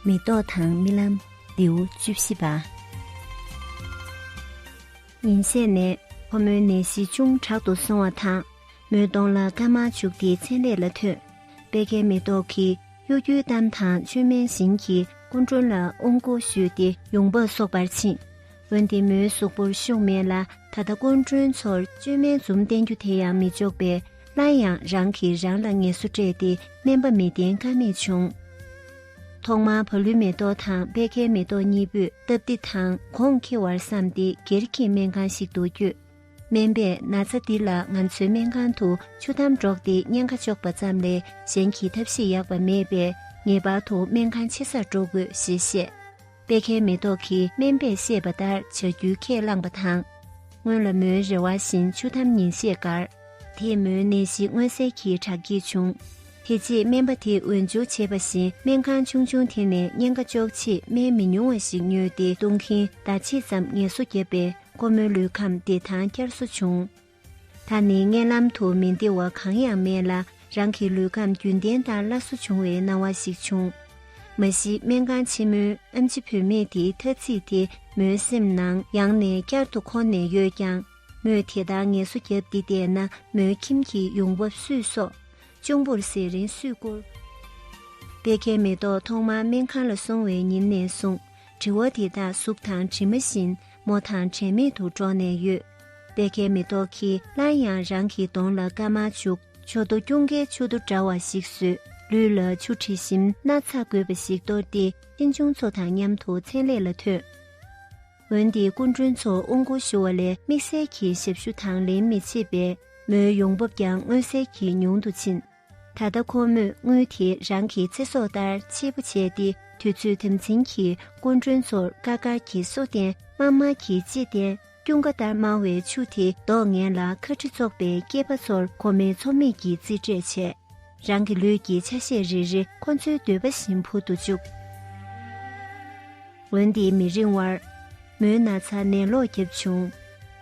མེ་ཏོག་དང་རྨི་ལམ་ལེའུ་བཅུ་བཞི་པ། ཉིན་ཤས་ནས་ཁོ་མོའི་ནད་གཞི་ཅུང་དྲག་ཏུ་སོང་བ་དང་མོའི་གདོང་ལ་སྐར་མ་བྱུགས་ཏེ་མཚན་ལས་ལ་ཐོན། པད་ཁའི་མེ་ཏོག་གིས་གཡོ་སྒྱུའི་གཏམ་དང་བཅོས་མའི་བཞིན་གྱིས་སྐུ་མགྲོན་ལ་དབང་བསྐུར་ཞུས་ཏེ་ཡོང་འབབ་གསོག་པར་ཕྱིན། འོན་ཏེ་མོའི་གཟུགས་པོར་ཤུགས་མེད་ལ་ད་ལྟ་སྐུ་མགྲོན་ཚོར་བཅོས་མའི་འཛུམ་བསྟན་རྒྱུ་དེ་ཡང་མི་ལྕོགས་པས། སླར་ཡང་རང་གིས་རང་ལ་ངལ་གསོ་སྤྲད་དེ་སྨན་པ་མི་བསྟེན་ཀ་མེད་བྱུང། ཐོག་མར་བ་ལུའི་མེ་ཏོག་དང་པད་ཁའི་མེ་ཏོག་གཉིས་པོས་སྟབས་བདེ་དང་གོང་འཁེལ་བར་བསམས་ཏེ་སྒེར་གྱི་སྨན་ཁང་ཞིག་ཏུ་བསྐྱོད། སྨན་པས་ན་ཚ་འདི་ལ་ང་ཚོའི་སྨན་ཁང་དུ་ཆུ་དམ་སྒྲོག་སྟེ་བརྙན་ཁ་གཅོག་པ་ཙམ་ལས་གཞན་གྱི་ཐབས་ཤེས་ཡག་པ་མེད་པས་ངེས་པར་དུ་སྨན་ཁང་ཆེ་སར་འགྲོ་དགོས་ཞེས་བཤད། པད་ཁའི་མེ་ཏོག་གིས་སྨན་པས་བཤད་པ་ལྟར་བྱ་རྒྱུའི་ཁས་བླངས་པ་དང། སྔོན་ལ་མོའི་རེ་བ་བཞིན་ཆུ་དམ་ཉིན་ཤས་འགར། དེས་མོའི་ནད་གཞི་མངོན་གསལ་གྱིས་དྲག་སྐྱེད་བྱུང། དེ་རྗེས་སྨན་པ་དེས་འོས་འཇུག་བྱས་པ་བཞིན་སྨན་ཁང་ཆུང་ཆུང་དེ་ནས་གཉན་ཁ་གཅོག་ཆེད་སྨན་མི་ཉུང་བ་ཞིག་ཉོས་ཏེ་བཏུང་གིན་ཟླ་ཕྱེད་ཙམ་ངལ་གསོ་བརྒྱབ་པས་ཁོ་མོའི་ལུས་ཁམས་བདེ་ཐང་བསྐྱར་གསོ་བྱུང། ད་ནི་བརྙན་ལམ་དུ་མི་འདི་བ་གང་ཡང་མེད་ལ་རང་གི་ལུས་ཁམས་རྒྱུན་ལྡན་ལྟར་སླར་གསོ་བྱུང་བའི་སྣང་བ་ཞིག་བྱུང། མ་གཞི་སྨན་ཁང་ཆེན་མོའི་ཨ་མཆི་བུད་མེད་དེའི་ཐ་ཚིག་དེ་མོའི་སེམས་ནང་ཡང་ནས་བསྐྱར་དུ་འཁོར་ནས་ཡོད་ཀྱང། མོས་དེ་ལྟར་ངལ་གསོ་བརྒྱབ་འདི་བལྟས་ན་མོའི་ཁྱིམ་གྱི་ཡོང་འབབ་སུས་གསོག། གཅུང་པོར་ཟས་རིན་སུས་བསྐུར། པད་ཁའི་མེ་ཏོག་ཐོག་མར་སྨན་ཁང་ལ་སོང་བའི་ཉིན་ནས་བཟུང་དྲི་བ་དེ་དག་གཟུགས་དང་གྲིབ་མ་བཞིན་མོ་དང་དྲན་མེད་དུ་འགྲོགས་ནས་ཡོད། དཔེ་ཁའི་མེ་ཏོག་གིས་སླར་ཡང་རང་གི་གདོང་ལ་སྐར་མ་བྱུག། ཆུ་དོ་སྐྱུང་ཁའི་ཆུ་དོ་འདྲ་བ་ཞིག་བཟོས། ལུས་ལ་ཆུ་དྲི་ཞིམ་སྣ་ཚགས་དགོས་པ་ཞིག་གཏོར་ཏེ་གཅེན་གཅུང་ཚོ་དང་མཉམ་དུ་མཚན་ལས་ལ་ཐོན། འོན་ཏེ་སྐུ་མགྲོན་ཚོ་དབུ་མགོ་ཞུ་བ་ལས་དམིགས་བསལ་གྱི་ཞབས་ཞུ་དང་ལེན་མི་བྱེད་པས་མོའི་ཡོང་འབབ་ཀྱང་མངོན་གསལ་གྱིས་ཉུང་དུ་ཕྱིན། ད་ལྟ་ཁོ་མོས་དངུལ་དེ་རང་གི་ཚེ་སྲོག་ལྟར་ཆེད་པོ་བྱས་ཏེ་དུས་ཚོད་དམ་འཛིན་གྱིས་སྐུ་མགྲོན་ཚོར་དཀར་དཀར་གྱི་སོ་ལྟན་དམར་དམར་གྱི་ལྕེ་ལྟན་སྐྱུང་ཀ་ལྟར་དམར་བའི་ཆུ་དེ་བདོག་ངན་ལ་ཁ་ཁྲི་བཙོག་པའི་སྐྱེས་པ་ཚོར་ཁོ་མོས་ཚོར་མེད་ཀྱི་རྩིས་སྤྲད་བྱས། རང་གི་ལུས་ཀྱི་ཆ་ཤས་རེ་རེ་ཁོ་ཚོའི་འདོད་པ་བཞིན་འཕུར་དུ་བཅུག། འོན་ཏེ་མི་རིང་བར། མོའི་ན་ཚ་ནད་ལོག་བརྒྱབ་བྱུང།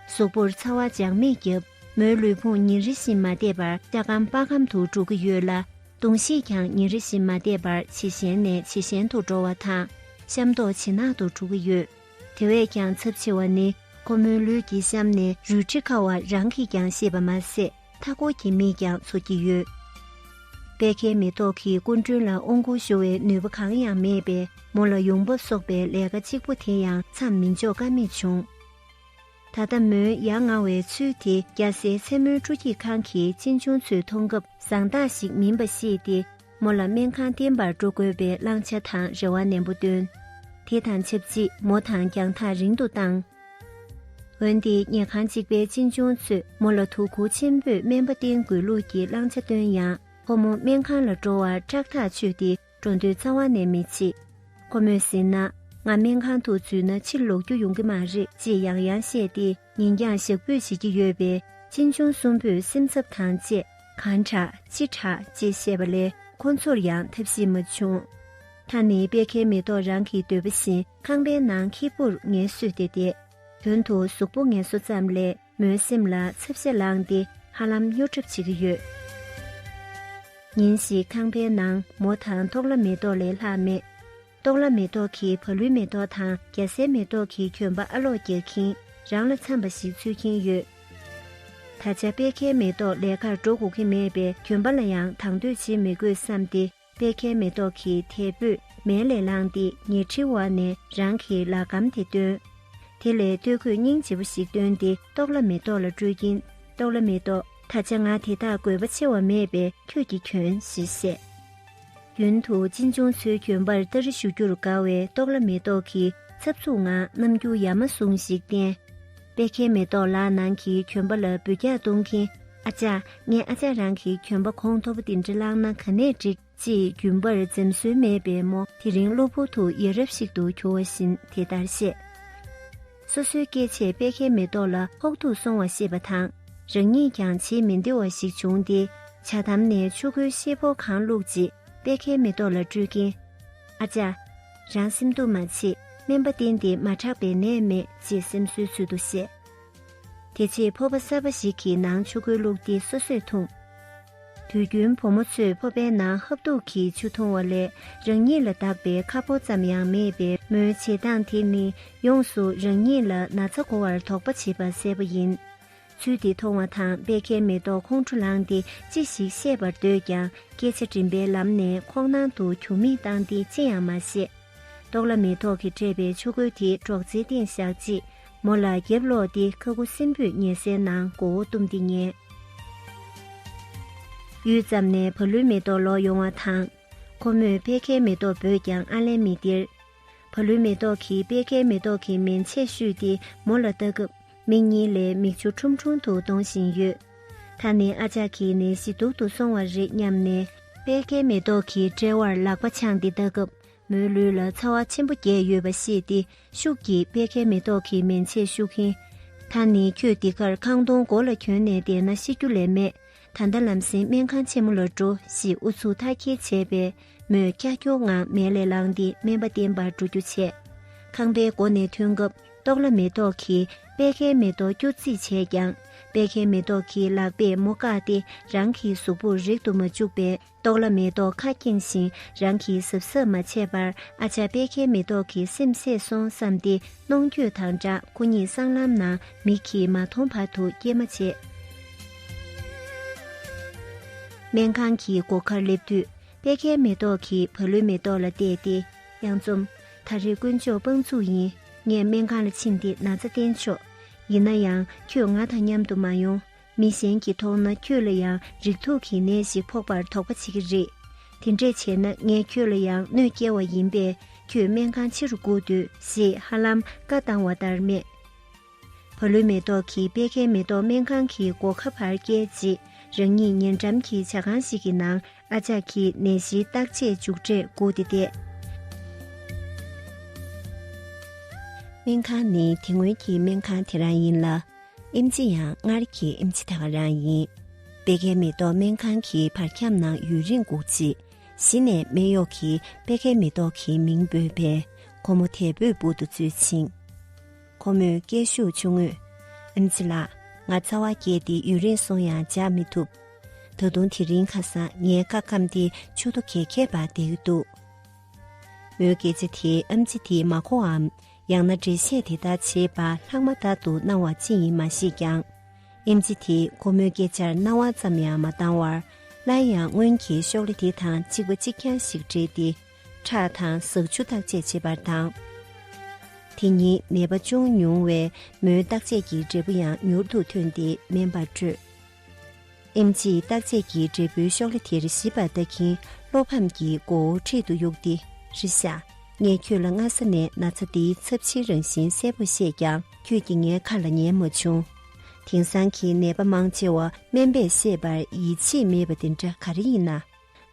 གཟུགས་པོར་ཚ་བ་འཇགས་མེད་བརྒྱབ། མོའི་ལུས་ཕུང་ཉིན་རེ་བཞིན་མ་བདེ་བར་སྐྱ་སྐམ་དཔའ་སྐམ་དུ་འགྲོ་གི་ཡོད་ལ། གདོང་ཤེད་ཀྱང་ཉིན་རེ་བཞིན་མ་བདེ་བར་ཇེ་ཞན་ནས་ཇེ་ཞན་དུ་འགྲོ་བ་དང་གཤམ་མདོག་ཇེ་ནག་ཏུ་འགྲོ་གི་ཡོད། དེ་བས་ཀྱང་ཚབས་ཆེ་བ་ནི་ཁོ་མོའི་ལུས་ཀྱི་གཤམ་ནས་རུལ་དྲི་ཁ་བ་རང་གིས་ཀྱང་ཤེས་པ་མ་ཟད་མཐའ་སྐོར་གྱི་མིས་ཀྱང་ཚོར་གྱི་ཡོད། པད་ཁའི་མེ་ཏོག་གིས་སྐུ་མགྲོན་ལ་དབང་བསྐུར་ཞུ་བའི་ནུས་པ་གང་ཡང་མེད་པས་མོ་ལ་ཡོང་འབབ་གསོག་པའི་ལས་ཀ་གཅིག་པོ་དེ་ཡང་མཚམས་མི་འཇོག་ཀ་མེད་བྱུང། ད་ལྟ་མོའི་ཡ་ང་བའི་ཚུལ་དེ་སྐྱ་སེར་མཚན་མོའི་སྤྲོ་སྐྱིད་ཁང་གི་གཅེན་གཅུང་ཚོས་མཐོང་སྐབས་བཟང་རྟགས་ཤིག་མིན་པ་ཤེས་ཏེ་མོ་ལ་སྨན་ཁང་བསྟེན་པར་འགྲོ་དགོས་པའི་བླང་བྱ་དང་རེ་བ་ནན་པོ་བཏོན། དེ་དང་ཆབས་ཅིག་མོ་དང་རྒྱང་ཐག་རིང་དུ་བཏང། འོན་ཏེ་ཉལ་ཁང་གཅིག་པའི་གཅེན་གཅུང་ཚོས་མོ་ལ་ཐུགས་ཁུར་ཆེན་པོས་སྨན་པ་བསྟེན་དགོས་ལུགས་ཀྱི་བླང་བྱ་བཏོན་ཡང་ཁོ་མོ་སྨན་ཁང་ལ་འགྲོ་བར་སྐྲག་ཐག་ཆོད་དེ། འགྲོ་འདོད་རྩ་བ་ནས་མི་བྱེད། ཁོ་མོས་ཟེར་ན། ང་སྨན་ཁང་དུ་འཛུལ་ན་ཕྱིར་ལོག་རྒྱུ་ཡོང་གི་མ་རེད་ཅེས་ཡང་ཡང་བཤད་དེ་ཉིན་འགྱངས་ཞག་འབུད་བྱེད་ཀྱི་ཡོད་པས་གཅེན་གཅུང་གསུམ་པོས་སེམས་འཚབ་དང་བཅས། གང་དྲག་ཅི་དྲག་ཅེས་བཤད་པ་ལས་ཁོ་ཚོར་ཡང་ཐབས་ཤེས་མ་བྱུང། ད་ནི་དཔལ་ཁའི་མེ་ཏོག་རང་གི་འདོད་པ་བཞིན་ཁང་པའི་ནང་ཁྱི་སྤུར་ངལ་གསོས་ཏེ་བསྡད། དོན་དུ་གཟུགས་པོ་ངལ་གསོ་ཙམ་ལས། མོའི་སེམས་ལ་ཚབ་བྱེད་ལངས་ཏེ་ཧ་ལམ་སྨྱོ་གྲབས་བྱེད་ཀྱི་ཡོད། ཉིན་ཞིག་ཁང་པའི་ནང་མོ་དང་ཏོག་ལ་མེ་ཏོག་ལས་ལྷག་མེད། ཏོག་ལ་མེ་ཏོག་གིས་བ་ལུའི་མེ་ཏོག་དང་རྒྱ་སེའི་མེ་ཏོག་གི་གྱོན་པ་ཨ་ལོག་རྒྱག་གིན་རང་ལ་འཚམས་པ་ཞིག་འཚོལ་གྱིན་ཡོད། ད་ཆ་དཔེ་ཁའི་མེ་ཏོག་ལས་ཁར་འགྲོ་དགོས་ཀྱི་མེད་པས་གྱོན་པ་ལ་ཡང་དང་དོད་བྱེད་མི་དགོས་བསམས་ཏེ། པད་ཁའི་མེ་ཏོག་གི་དལ་བུས་མལ་ལས་ལངས་ཏེ་ཉལ་ཁྲི་བ་ནས་རང་གི་ལག་སྒམ་དེ་བཏོན། དེ་ལས་སྟོད་གོས་སྙིང་རྗེ་བོ་ཞིག་བཏོན་ཏེ་ཏོག་ལ་མེ་ཏོག་ལ་སྤྲོད་ཀྱིན་ཏོག་ལ་མེ་ཏོག། ད་ཆ་ང་དེ་དག་དགོས་པ་ཆེ་བ་མེད་པས་ཁྱོད་ཀྱིས་གྱོན་ཞེས་བཤད། རྒྱུན་དུ་གཅེན་གཅུང་ཚོའི་གྱོན་པར་སྟ་རེ་ཞུ་རྒྱུར་དགའ་བའི་ཏོག་ལ་མེ་ཏོག་གིས་འཚབ་འཚུབ་ངང་རྣམ་འགྱུར་ཡ་མ་ཟུང་ཞིག་བསྟན། པད་ཁའི་མེ་ཏོག་ལག་ནང་གི་གྱོན་པ་ལ་འབུད་རྒྱག་གཏོང་གིན། ཨ་ཅག་ངས་ཨ་ཅག་རང་གི་གྱོན་པ་གོང་མཐོ་པོ་དེ་འདྲ་བླངས་ན་ག་ནས་འགྲིག་ཅེས་རྒྱུན་པར་འཛེམ་སྲོལ་མེད་པའི་མོ་དེ་རིང་གློ་བུར་དུ་ཡ་རབས་ཤིག་ཏུ་གྱུར་བ་བཞིན་དེ་ལྟར་བཤད། སོ་སོའི་སྐད་ཆས་དཔལ་ཁའི་མེ་ཏོག་ལ་ཕོག་ཐུག་སོང་བ་ཤེས་པ་དང་རང་ཉིད་ཀྱང་བྱེད་མི་བདེ་བ་ཞིག་བྱུང་སྟེ་བྱ་དམ་ནས་ཆུ་ཁོལ་ཤེལ་ཕོར་གང་བླུགས་རྗེས་དཔལ་ཁའི་མེ་ཏོག་ལ་སྤྲོད་ཀྱིན། ཨ་ཅག། རང་སེམས་སྡུག་མ་བྱེད་སྨན་པ་བསྟེན་ཏེ་མ་དྲག་པའི་ནད་མེད་ཅེས་སེམས་གསོའི་ཚུལ་དུ་བཤད། དེ་རྗེས་ཕོར་པ་གསར་པ་ཞིག་གི་ནང་ཆུ་ཁོལ་བླུགས་ཏེ་སོ་སོས་འཐུང། དུས་རྒྱུན་བུ་མོ་ཚོས་ཕོར་པའི་ནང་ཧབ་ཐུག་གིས་ཆུ་འཐུང་བ་ལས་རང་ཉིད་ལ་བདག་པའི་ཁ་ཕོ་ཙམ་ཡང་མེད་པས་མོའི་བྱེད་སྟངས་དེ་ནི་ཡོངས་སུ་རང་ཉིད་ལ་ན་ཚ་གོ་བར་དོགས་པ་བྱེད་པ་གསལ་པོ་ཡིན། ཚུལ་འདི་མཐོང་བ་དང་པད་ཁའི་མེ་ཏོག་ཁོང་ཁྲོ་ལངས་ཏེ་ཅི་ཞིག་བཤད་པར་འདོད་ཀྱང་སྐད་ཆ་འདྲིམ་པའི་ལམ་ནས་ཁོག་ནང་དུ་གྱོ་མིག་བཏང་སྟེ་ཅི་ཡང་མ་བཤད། ཏོག་ལ་མེ་ཏོག་གིས་སྤྲས་པའི་ཆུ་ཁོལ་དེའི་སྒྲོག་ཙེའི་སྟེང་བཞག་རྗེས་མོ་ལ་རྒྱབ་ལོག་སྟེ་ཁ་ཁུ་སིམ་པོས་ཉལ་སའི་ནང་མགོ་བོ་བཏུམས་ཏེ་ཉལ། ཡུད་ཙམ་ནས་བ་ལུའི་མེ་ཏོག་ལོག་ཡོང་བ་དང། ཁོ་མོས་པད་ཁའི་མེ་ཏོག་འབོད་ཀྱང་ཨ་ལན་མི་སྟེར། བ་ལུའི་མེ་ཏོག་གིས་པད་ཁའི་མེ་ཏོག་གི་མན་ཆས་བཤུས་ཏེ་མོ་ལ་ལྟ་སྐབས། མིག་གཉིས་ལས་མིག་ཆུ་ཁྲུམ་ཁྲུམ་དུ་གཏོང་བཞིན་ཡོད། ད་ནི་ཨ་ཅག་གིས་ནད་གཞི་སྡུག་ཏུ་སོང་བ་རེད་སྙམ་ནས། པད་ཁའི་མེ་ཏོག་གི་དཔྲལ་བར་ལག་པ་འཆང་སྟེ་ལྟ་སྐབས་མོའི་ལུས་ལ་ཚ་བ་ཆེན་པོ་རྒྱས་ཡོད་པ་ཤེས་ཏེ་ཤུགས་ཀྱིས་པད་ཁའི་མེ་ཏོག་གི་མན་ཆས་བཤུག་གིན། ད་ནི་ཁྱོད་འདི་གར་ཁང་སྟོང་མགོ་ལ་གྱོན་ནས་བསྡད་ན་ཤི་རྒྱུ་ལས་མེད། ད་ལྟ་ལམ་སེང་སྨན་ཁང་ཆེན་མོ་ལ་འགྲོ་ཞེས་ཨུ་ཚུགས་མཐའ་སྐྱེལ་བྱས་པས་མོས་ཀྱག་ཀྱོག་ངང་མལ་ལས་ལངས་ཏེ་སྨན་པ་བསྟེན་པར་འགྲོ་རྒྱུ་བྱས། ཁང་པའི་སྒོ་ནས་ཐོན་སྐབས། ཏོག་ལ་མེ་ཏོག་གིས་པད་ཁའི་མེ་ཏོག་སྐྱུར་རྩིས་བྱས་ཀྱང་པད་ཁའི་མེ་ཏོག་གི་ལག་པས་མོ་བཀག་སྟེ་རང་གི་གཟུགས་པོར་རེག་ཏུ་མ་བཅུག་པས་ཏོག་ལ་མེ་ཏོག་ཁ་སྐྱེངས་ཤིང་རང་གི་གཟབ་གཟབ་མ་བྱས་པར་ཨ་ཅག་པད་ཁའི་མེ་ཏོག་གི་སེམས་བསྲེགས་སོང་བསམས་ཏེ་གནོང་འགྱོད་དང་སྦྲགས་སྐུ་ཉིད་སྲང་ལམ་ན་མིག་གིས་མ་མཐོང་བར་དུ་སྐྱེལ་མ་བྱས། སྨན་ཁང་གི་སྒོ་ཁར་སླེབས་དུས་པད་ཁའི་མེ་ཏོག་གིས་བ་ལུའི་མེ་ཏོག་ལ་བལྟས་ཏེ། གཡང་འཛོམས། ད་རེས་དཀོན་མཆོག་དཔང་བཙུགས་ཡིན། ངས་སྨན་ཁང་ལ་ཕྱིན་ཏེ་ན་ཚ་བསྟེན་ཆོག་ཡིན་ན་ཡང་ཁྱོད་ང་དང་མཉམ་དུ་མ་ཡོང། མི་གཞན་གྱིས་མཐོང་ན་ཁྱོད་ལ་ཡང་རིགས་དྲུག་གི་ནད་ཞིག་ཕོག་པར་དོགས་པ་བྱེད་ཀྱི་རེད། དེ་འདྲས་བྱས་ན་ངས་ཁྱོད་ལ་ཡང་གནོད་བསྐྱལ་བ་ཡིན་པས་ཁྱོད་སྨན་ཁང་ཕྱི་རུ་བསྐུར་དུས་ཞེས་ཧ་ལམ་བཀའ་བཏང་བ་ལྟར་སྨྲས། བ་ལུའི་མེ་ཏོག་གིས་སྤེལ་མཁན་མེ་ཏོག་སྨན་ཁང་གི་སྒོ་ཁ་བར་བསྐྱལ་རྗེས་རང་ཉིད་ཉེ་འགྲམ་གྱི་བྱ་ཁང་ཞིག་གི་ནང་ཨ་ཅག་གིས་ནད་གཞིའི་བརྟག་དཔྱད་མཇུག་འབྲས་བསྒུགས་ཏེ་བསྡད། སྨན་ཁང་ནི་དེ་སྔོན་གྱི་སྨན་ཁང་དེ་རང་ཡིན་ལ། ཨེམ་ཆི་ཡང་སྔར་གྱི་ཨེམ་ཆི་དང་རང་ཡིན། སྤེལ་མཁན་མེ་ཏོག་སྨན་ཁང་གི་བར་ཁྱམས་ནང་ཡུན་རིང་བསྒུགས་རྗེས་གཞི་ནས་སྨན་གཡོག་གིས་སྤེལ་མཁན་མེ་ཏོག་གི་མིང་འབོད་པས་ཁོ་མོ་དལ་བུས་འབུར་དུ་འཛུལ་ཕྱིན། ཁོ་མོས་སྐད་ཤུགས་ཆུང་ངུས། ཨེམ་ཆི་ལགས། ང་རྩ་བ་བརྒྱད་དེ་ཡུན་རིང་སོང་ཡང་འཇགས་མི་ཐུབ། ད་དུང་དེ་རིང་ཁ་སང་ངའི་བཀའ་ཁམས་དེ་ཆུ་ཐོ་གས་ཁྱད་པར་འདེགས་ཀྱི་འདུག་མོའི་སྐད་ཆ་དེས་ཨེམ་ཆི་དེ་མ་གོ་བའམ་ཡང་ན་འགྲེལ་བཤད་དེ་དག་བྱེད་པར་ལྷག་མ་དག་ཏུ་སྣང་བ་ཅི་ཡིན་མ་ཤེས་ཀྱང། ཨེམ་ཆི་དེས་ཁོ་མོའི་སྐད་ཆར་རྣ་བ་ཙམ་ཡང་མ་གཏང་བར་སླར་ཡང་སྔོན་གྱི་ཤོག་ལེ་དེ་དང་གཅིག་པ་གཅིག་རྐྱང་ཞིག་སྦྲེལ་ཏེ། ཁྲག་དང་ཟགས་ཆུ་བརྟག་དཔྱད་བྱེད་པར་དང། དེ་ཉིད་ནད་པ་ཅུང་ཉུང་བས་མོའི་བརྟག་དཔྱད་ཀྱི་འབྲས་བུ་ཡང་མྱུར་དུ་ཐོན་ཏེ་སྨན་པར་སྤྲོད། ཨེམ་རྗེས་བརྟག་དཔྱད་ཀྱི་འབྲས་བུའི་ཤོག་ལྷེ་དེར་ཞིབ་པར་ལྟ་གིན་བློ་ཕམ་གྱི་མགོ་བོ་འཁྲིད་དུ་གཡུགས་ཏེ་རེད་ཤ། ངས་ཁྱོད་ལ་སྔ་ས་ནས་ན་ཚ་འདིའི་ཚབས་ཆེའི་རང་བཞིན་གསལ་པོར་བཤད་ཀྱང་ཁྱོད་ཀྱིས་ངའི་ཁ་ལ་ཉན་མ་བྱུང། དེང་སང་གི་ནད་པ་མང་ཆེ་བ་སྨན་པས་བཤད་པར་ཡིད་ཆེས་མེད་པ་དེ་འདྲ་ག་རེ་ཡིན་ན།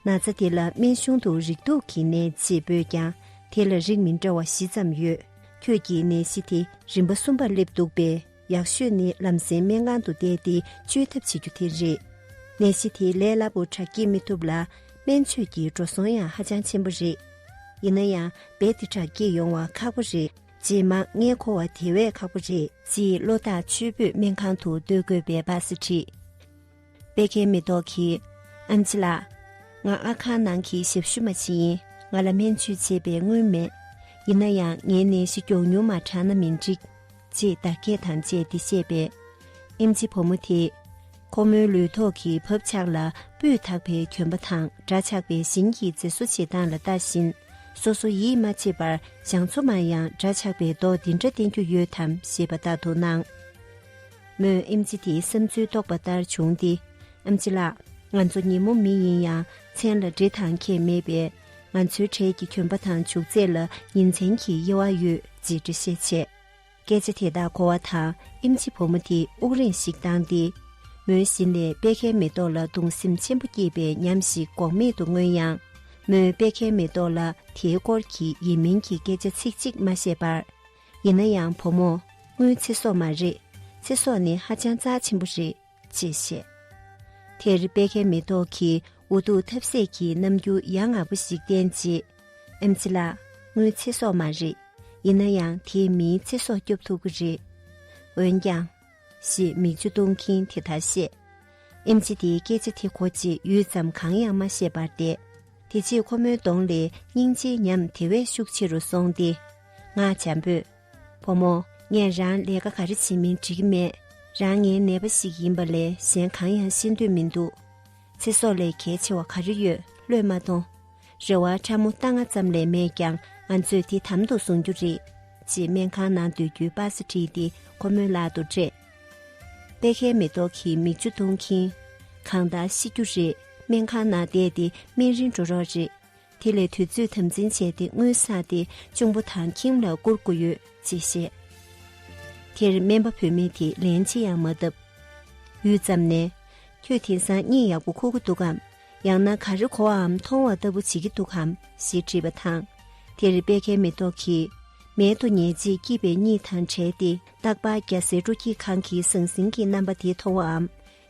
ན་ཚ་དེ་ལ་སྨན་གཞུང་དུ་རིགས་དུག་གི་ནད་ཅེས་འབོད་ཀྱང་དེ་ལ་རིགས་མི་འདྲ་བ་བཞི་ཙམ་ཡོད། ཁྱོད་ཀྱི་ནད་གཞི་དེ་རིམ་པ་གསུམ་པར་སླེབས་འདུག་པས་ཡག་ཤོས་ནི་ལམ་སེང་སྨན་ཁང་དུ་བསྡད་དེ་བཅོས་ཐབས་བྱེད་རྒྱུ་དེ་རེད། ནད་གཞི་དེ་ལས་སླ་པོ་དྲག་སྐྱེད་མི་ཐུབ་ལ་སྨན་བཅོས་ཀྱི་འགྲོ་སོང་ཡང་ཧ་ཅང་ཆེན་པོ་རེད། ཡིན་ན་ཡང་རྦད་དེ་དྲག་སྐྱེད་ཡོང་བ་ཁག་པོ་རེད། རྗེས་མ་ངའི་གོ་བ་དེ་བས་ཁག་པོ་རེད། ཅེས་བློ་ཐག་ཆོད་པོས་སྨན་ཁང་དུ་སྡོད་དགོས་པའི་སྦ་གསལ་བྲིས། པད་ཁའི་མེ་ཏོག་གིས། ཨ་མཆི་ལགས། ང་ཨ་ཁ་ནང་གི་ཞབས་ཞུ་མ་ཞིག་ཡིན་ང་ལ་སྨན་བཅོས་བྱེད་པའི་དངུལ་མེད། ཡིན་ན་ཡང་ངའི་ནད་གཞི་མགྱོགས་མྱུར་མ་དྲག་ན་མི་འགྲིག། ཅེས་བརྡ་སྐད་དང་བཅས་འདི་བཤད་པས། ཨེ་མཆི་བུ་མོ་དེས། ཁོ་མོའི་ལུས་ཐོག་གི་བབ་ཆགས་ལ་སྤུས་དག་པའི་གྱོན་པ་དང་སྒྲ་ཆགས་པའི་བཞིན་གྱིས་མཛེས་བཟོ་བྱེད་སྟངས་ལ་ལྟ་བཞིན། སོ་སོ་ཡིད་མ་ཆེས་པར་བྱང་ཆུབ་མ་ཡང་སྒྲ་ཆགས་པའི་མདོག་འདི་འདྲ་བསྟན་རྒྱུ་ཡོད་དམ་ཞེས་པ་ལྟ་དུ་སྣང། མོས་ཨེམ་ཆི་དེའི་བསམ་ཚུལ་རྟོགས་པ་ལྟར་བྱུང་སྟེ། ཨེམ་ཆི་ལགས། ང་ཚོ་ཉིན་མོ་མི་ཡིན་ཡང་མཚན་ལ་འདྲེ་དང་ཁྱེད་མེད་པས། ང་ཚོའི་གྲས་ཀྱི་གྱོན་པ་དང་བྱུག་རྫས་ལ་ཉིན་མཚན་གྱི་དབྱེ་བ་ཡོད་ཅེས་འགྲེལ་བཤད་བྱས། སྐད་ཆ་དེ་དག་གོ་བ་དང་ཨེམ་ཆི་བུ་མོ་དེ་དབུགས་རིང་ཞིག་བཏང་སྟེ། མོའི་བཞིན་ལས་པད་ཁའི་མེ་ཏོག་ལ་གདུང་སེམས་ཆེན་པོ་སྐྱེས་པའི་ཉམས་ཤིག་འགོག་མེད་དུ་མངོན་ཡང། མོས་པད་ཁའི་མེ་ཏོག་ལ་དེའི་སྐོར་གྱི་ཡིན་མིན་གྱི་སྐད་ཆ་ཚིག་གཅིག་མ་བཤད་པར། ཡིན་ན་ཡང་བུ་མོ་སྔོན་ཚེ་སྲོག་མ་རེད་ཚེ་སྲོག་ནི་ཧ་ཅང་རྩ་ཆེན་པོ་རེད་ཅེས་བཤད། དེར་དཔལ་ཁའི་མེ་ཏོག་གིས་འུ་ཐུག་ཐབས་ཟད་ཀྱི་རྣམ་འགྱུར་ཡ་ང་པོ་ཞིག་བསྟན་རྗེས། ཨེམ་ཆི་ལགས་སྔོན་ཚེ་སྲོག་མ་རེད་ཡིན་ན་ཡང་དེས་མིའི་ཚེ་སྲོག་སྐྱོབ་ཐུབ་ཀི་རེད། འོན་ཀྱང། ཞེས་མིག་ཆུ་གཏོང་གིན་དེ་ལྟར་བཤད། ཨེམ་ཆི་དེའི་སྐད་ཆ་དེ་ཁོ་ཅིས་ཡུད་ཙམ་གང་ཡང་མ་བཤད་པར་བསྡད། དེ་རྗེས་ཁོ་མོའི་གདོང་ལས་སྙིང་རྗེའི་ཉམས་དེ་བས་ཤུགས་ཆེ་རུ་སོང་སྟེ། ང་བྱམས་པོས། བུ་མོ། ངས་རང་ལས་ཀ་ག་རེ་བྱེད་མིན་འདྲི་གི་མེད། རང་ངའི་ནད་པ་ཞིག་ཡིན་པ་ལས་གཞན་གང་ཡང་ཤེས་འདོད་མི་འདུག། ཚེ་སྲོག་ལས་གལ་ཆེ་བ་ག་རེ་ཡོད་བློས་མ་གཏོང། རེ་བ་ཕྲ་མོ་རྟ་རྔ་ཙམ་ལས་མེད་ཀྱང་ང་ཚོས་དེ་དམ་དུ་བཟུང་རྒྱུ་རེད། ཅེས་སྨན་ཁང་ནང་སྡོད་རྒྱུའི་པར་ས་བྲིས་ཏེ་ཁོ་མོའི་ལག་ཏུ་སྤྲད། པད་ཁའི་མེ་ཏོག་གིས་མིག་ཆུ་བཏུང་གིན། གང་ལྟར་ཤི་རྒྱུ་རེད་སྨན་ཁང་ནང་བསྡད་དེ་སྨན་རིན་འགྲོ་རོགས་རེད། དེ་ལས་དུས་ཚོད་དམ་འཛིན་བྱས་ཏེ་དངུལ་བསགས་ཏེ་གཅུང་པོ་དང་ཁྱིམ་ལ་བསྐུར་དགོས་ཡོད་ཅེས་བཤད། དེར་སྨན་པ་བུད་མེད་དེས་ལན་ཅི་ཡང་མ་བཏབ། ཡུད་ཙམ་ནས། ཁྱོད་དེང་སང་གཉིད་ཡག་པོ་ཁུག་གི་འདུག་གམ། ཡང་ན་ག་རེ་གོ་བའམ་མཐོང་བ་ལྟ་བུ་བྱེད་ཀྱི་འདུག་གམ་ཞེས་དྲིས་པ་དང། དེར་དཔལ་ཁའི་མེ་ཏོག་གིས། མལ་དུ་ཉལ་རྗེས་སྐྱིད་པའི་གཉིད་དང་བྲལ་ཏེ་རྟག་པར་རྒྱ་བཟའི་སྤྲོ་སྐྱིད་ཁང་གི་ཟང་ཟིང་གི་རྣམ་པ་དེ་མཐོང་བའམ།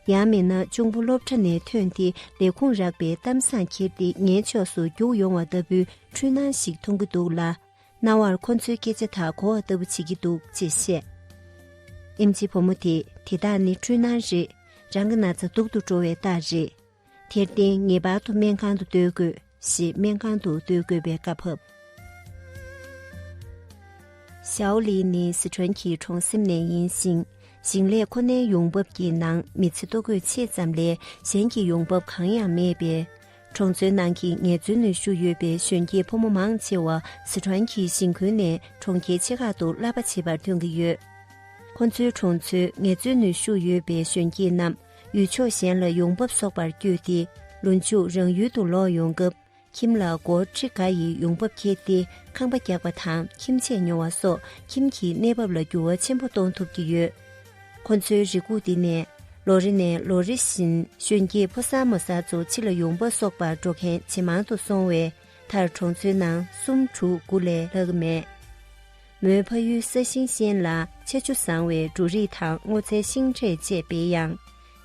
ཡང་མིན་ན་གཅུང་པོ་སློབ་གྲྭ་ནས་ཐོན་ཏེ་ལས་ཁུངས་རག་པའི་གཏམ་བཟང་ཁྱེར་ཏེ་ངའི་ཕྱོགས་སུ་རྒྱུགས་ཡོང་བ་ལྟ་བུའི་འཁྲུལ་སྣང་ཞིག་མཐོང་གི་འདུག་ལ། རྣ་བར་ཁོ་ཚོའི་སྐད་ཆ་དག་གོ་བ་ལྟ་བུ་བྱེད་ཀྱི་འདུག་ཅེས་བཤད། ཨེམ་ཆི་བུ་མོ་དེས་དེ་དག་ནི་འཁྲུལ་སྣང་རེད། རང་གི་ན་ཚ་སྡུག་ཏུ་འགྲོ་བའི་རྟགས་རེད། དེར་བརྟེན་ངེས་པར་དུ་སྨན་ཁང་དུ་སྡོད་དགོས། ཞེས་སྨན་ཁང་དུ་སྡོད་དགོས་པའི་བཀའ་ཕབ། ཞའོ་ལིས་ནི་སི་ཁྲོན་གྱི་གྲོང་གསེབ་ནས་ཡིན་ཞིང། ཞིང་ལས་ཁོ་ནའི་ཡོང་འབབ་ཀྱི་ནང་མི་ཚེ་ལྟོ་གོས་ཕྱེད་ཙམ་ལས་གཞན་གྱི་ཡོང་འབབ་གང་ཡང་མེད་པས། གྲོང་ཚོའི་ནང་གི་ངལ་རྩོལ་ནུས་ཤུགས་ཡོད་པའི་གཞོན་སྐྱེས་ཕོ་མོ་མང་ཆེ་བ་སི་ཁྲོན་གྱི་ཞིང་ཁུལ་ནས་གྲོང་ཁྱེར་ཆེ་ཁག་ཏུ་གླ་པ་བྱེད་པར་ཐོན་གྱི་ཡོད། ཁོ་ཚོའི་གྲོང་ཚོའི་ངལ་རྩོལ་ནུས་ཤུགས་ཡོད་པའི་གཞོན་སྐྱེས་རྣམས་ཡུལ་ཕྱོགས་གཞན་ལ་ཡོང་འབབ་གསོག་པར་བསྐྱོད་དེ་ལོ་མཇུག་རང་ཡུལ་དུ་ལོག་ཡོང་སྐབས་ཁྱིམ་ལ་སྒོར་ཁྲི་འགའ་ཡི་ཡོང་འབབ་འཁྱེར་ཏེ་ཁང་པ་རྒྱག་པ་དང་ཁྱིམ་ཆས་ཉོ་བ་སོགས་ཁྱིམ་གྱི་གནས་བབ་ལ་འགྱུར་བ་ཆེན་པོ་གཏོང་ཐུབ་ཀྱི་ཡོད། ཁོ་ཚོའི་རེ་སྒུག་འདི་ནི་ལོ་རེ་ནས་ལོ་རེ་བཞིན་གཞོན་སྐྱེས་ཕོ་གསར་མོ་གསར་ཚོ་ཕྱི་ལ་ཡོང་འབབ་གསོག་པར་འགྲོ་མཁན་ཇེ་མང་དུ་སོང་བས་མཐར་གྲོང་ཚོའི་ནང་སུམ་དྲུག་དགུ་ལས་ལྷག་མེད། མོའི་ཕ་ཡུལ་ས་ཞིང་ཞན་ལ་ཆ་ཆུ་བཟང་བའི་འབྲུ་རིགས་དང་སྔོ་ཚལ་ཤིང་འབྲས་བཅས་སྤེལ་ཡང།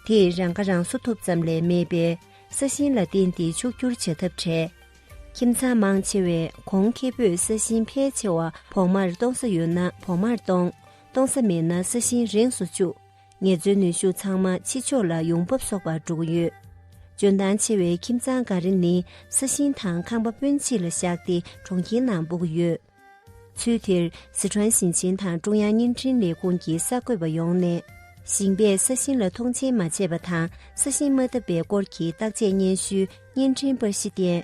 དེས་རང་ཁ་རང་གསོ་ཐུབ་ཙམ་ལས་མེད་པས་ས་ཞིང་ལ་བརྟེན་ཏེ་ཕྱུག་བསྒྱུར་བྱ་ཐབས་བྲལ། ཁྱིམ་ཚང་མང་ཆེ་བས་གོང་ཁེ་པོས་ས་ཞིང་ཕལ་ཆེ་བ་བོགས་མར་གཏོང་ས་ཡོད་ན་བོགས་མར་གཏོང། གཏོང་ས་མེད་ན་ས་ཞིང་རེངས་སུ་བཅུག་ངལ་རྩོལ་ནུས་ཤུགས་ཚང་མ་ཕྱི་ཕྱོགས་ལ་ཡོང་འབབ་གསོག་པར་འགྲོ་གི་ཡོད། འཇོན་ཐང་ཆེ་བའི་ཁྱིམ་ཚང་འགའ་རེ་ནི་ས་ཞིང་དང་ཁང་པ་སྤུན་མཆེད་ལ་བཞག་སྟེ་གྲོང་ཁྱེར་ནང་སྤོ་གི་ཡོད། ཚུལ་དེར་སི་ཁྲོན་ཞིང་ཆེན་དང་ཀྲུང་དབྱང་བརྙན་འཕྲིན་ལས་ཁུངས་ཀྱི་གསར་འགོད་པ་ཡོང་ནས། ཞིང་པས་ས་ཞིང་ལ་མཐོང་ཆེན་མ་བྱས་པ་དང་ས་ཞིང་མ་བཏབ་པའི་སྐོར་གྱི་བརྟག་དཔྱད་སྙན་ཞུའི་བརྙན་འཕྲིན་པར་གཞི་བསྟན།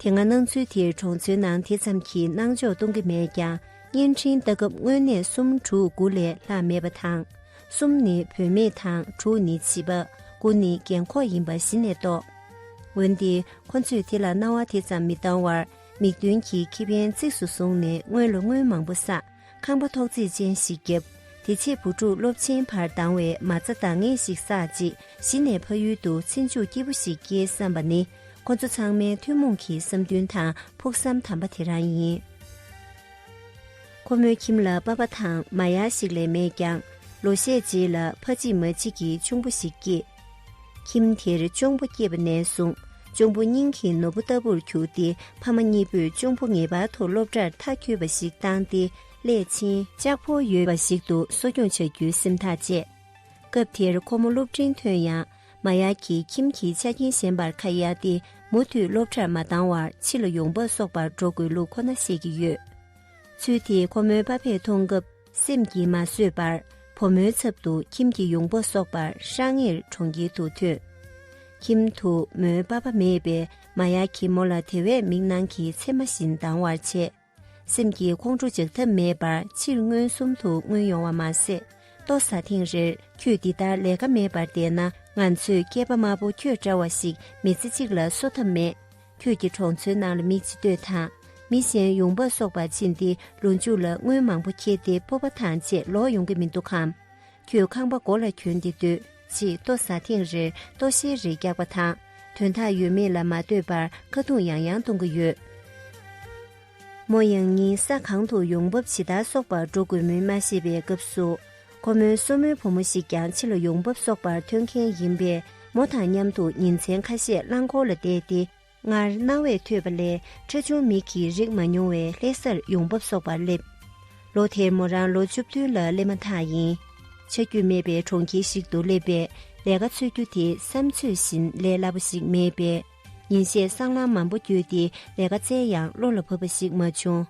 དེ་སྔ་སྣང་ཚུལ་དེར་གྲོང་ཚོའི་ནང་དེ་ཙམ་གྱི་སྣང་འཇོག་གཏོང་གི་མེད་ཀྱང་བརྙན་འཕྲིན་བལྟ་སྐབས་དངོས་གནས་གསུམ་དྲུག་དགུ་ལས་ལྷག་མེད་པ་དང། གསུམ་ནི་བུད་མེད་དང་དྲུག་ནི་བྱིས་པ་དགུ་ནི་རྒན་འཁོགས་ཡིན་པ་གཞི་ནས་རྟོགས། འོན་ཏེ་ཁོ་ཚོས་དེ་ལ་སྣང་བ་དེ་ཙམ་མི་བཏང་བར། མིག་མདུན་གྱི་ཁེ་ཕན་གཙིགས་སུ་བཟུང་ནས་སྔོན་ལོ་སྔོན་མང་པོ་བསགས་ཁང་པ་ཐོག་བརྩེགས་ཅན་ཞིག་བརྒྱབ། དེ་ཕྱིར་བུ་ཕྲུག་སློབ་ཆེན་བར་ལྡང་བའི་མ་རྩ་འདང་ངེས་ཤིག་བསགས་རྗེས་གཞི་ནས་ཕ་ཡུལ་དུ་ཚེ་མཇུག་སྐྱིད་པོ་ཞིག་སྐྱེལ་བསམ་པ་ནི་ཁོ་ཚོ་ཚང་མའི་ཐུན་མོང་གི་བསམ་འདུན་དང་ཕུགས་བསམ་དམ་པ་དེ་རང་ཡིན། ཁོ་མོའི་ཁྱིམ་ལ་པ་ཕ་དང་མ་ཡར་ཞིག་ལས་མེད་ཀྱང་ལོ་ཤས་རྗེས་ལ་ཕ་གཅིག་མ་གཅིག་གི་ཆུང་པོ་ཞིག་སྐྱེས། ཁྱིམ་དེར་གཅུང་པོ་སྐྱེས་པ་ནས་བཟུང་གཅུང་པོ་སྙིང་གི་ནོར་བུ་ལྟ་བུར་གྱུར་ཏེ་ཕ་མ་གཉིས་པོས་གཅུང་པོ་ངེས་པར་དུ་སློབ་གྲྭར་མཐའ་འཁྱོལ་བ་ཞིག་བཏང་སྟེ་སླད་ཕྱིན་ལྕགས་ཕོ་ཡོད་པ་ཞིག་ཏུ་གསོ་སྐྱོང་བྱ་རྒྱུའི་སེམས་ཐག་བཅད། སྐབས་དེར་ཁོ་མོ་སློབ་འབྲིང་ཐོན་ཡང་མ་ཡ་གི་ཁྱིམ་གྱི་ཆ་རྐྱེན་ཞན་པར་ཁ་གཡར་ཏེ་མུ་མཐུད་སློབ་གྲྭར་མ་བཏང་བར་ཕྱི་ལ་ཡོང་འབབ་གསོག་པར་འགྲོ་དགོས་ལུགས་ཁོ་ན་ཤེས་ཀྱི་ཡོད། ཚུལ་དེ་ཁོ་མོའི་ཕ་ཕས་མཐོང་སྐབས། སེམས་ཀྱིས་མ་བཟོད་པར་བུ་མོའི་ཚབ་ཏུ་ཁྱིམ་གྱི་ཡོང་འབབ་གསོག་པར་ཧྲང་ངེར་གྲོང་ཁྱེར་དུ་ཐོན། ཁྱིམ་དུ་མོའི་པ་པ་མེད་པས་མ་ཡ་གྱིས་མོ་ལ་དེ་བས་མིག་ནང་གི་མཚེ་མ་བཞིན་སྡང་བར་བྱས། སེམས་ཀྱིས་ཁོང་ཁྲོ་འཇགས་ཐབས་མེད་པར་ཕྱིར་མངོན་སུམ་དུ་མངོན་ཡོང་བ་མ་ཟད་ལྟོ་ཟ་ཐེངས་རེར་ཁྱོས་འདི་ལྟར་ལས་ཀ་མེད་པར་བསྡད་ན་ང་ཚོས་སྐྱེས་པ་དམར་པོ་ཁྱོད་འདྲ་བ་ཞིག་མི་ཚེ་གཅིག་ལ་གསོ་ཐབས་མེད། ཁྱོད་ཀྱིས་གྲོང་ཚོའི་ནང་ལ་མི་ཅི་འདོད་དང། མི་གཞན་ཡོང་འབབ་གསོག་པར་ཕྱིན་ཏེ་ལོ་མཇུག་ལ་དངུལ་མང་པོ་འཁྱེར་ཏེ་སྤོབས་པ་ཐང་ཆད་ལོག་ཡོང་གི་མི་འདུག་གམ། ཁྱོད་ཁང་པ་མགོ་ལ་གྱོན་ཏེ་སྡོད་ཅེས་ལྟོ་ཟ་ཐེངས་རེར་ལྟོ་བཤལ་རེ་རྒྱག་པ་དང་དོན་དག་ཡོད་མེད་ལ་མ་ལྟོས་པར་ཀ་རྡུང་ཡང་ཡང་གཏོང་གི་ཡོད། མོ་ཡང་གཉིད་ས་གང་དུ་ཡོང་འབབ་ཇི་ལྟར་གསོག་པར་འགྲོ་དགོས་མིན་མ་ཤེས་པའི་སྐབས་སུ། ཁོ་མོའི་སོར་མོའི་བུ་མོ་ཞིག་ཀྱང་ཕྱི་ལ་ཡོང་འབབ་གསོག་པར་ཐོན་མཁན་ཡིན་པས་མོ་དང་མཉམ་དུ་ཉིན་མཚན་ཁ་ཤས་རླངས་འཁོར་ལ་བསྡད་དེ། སྔར་སྣང་བས་ཐོས་པ་ལས་ཁྲ་ཆུང་མིག་གིས་རིག་མ་མྱོང་བའི་ལྷས་སར་ཡོང་འབབ་གསོག་པར་སླེབས། ལོ་དེར་མོ་རང་ལོ་བཅུ་བདུན་ལ་སླེབས་མ་ཐག་ཡིན། ཆ་རྒྱུས་མེད་པའི་གྲོང་ཁྱེར་ཞིག་ཏུ་སླེབས་པས་ལས་ཀ་འཚོལ་རྒྱུ་དེ་བསམ་ཚོད་བཞིན་ལས་སླ་པོ་ཞིག་མེད་པས། ཉིན་ཤས་སྲང་ལམ་མང་པོ་བརྒྱུད་དེ་ལས་ཀ་བཙལ་ཡང་བློ་ལ་བབས་པ་ཞིག་མ་བྱུང།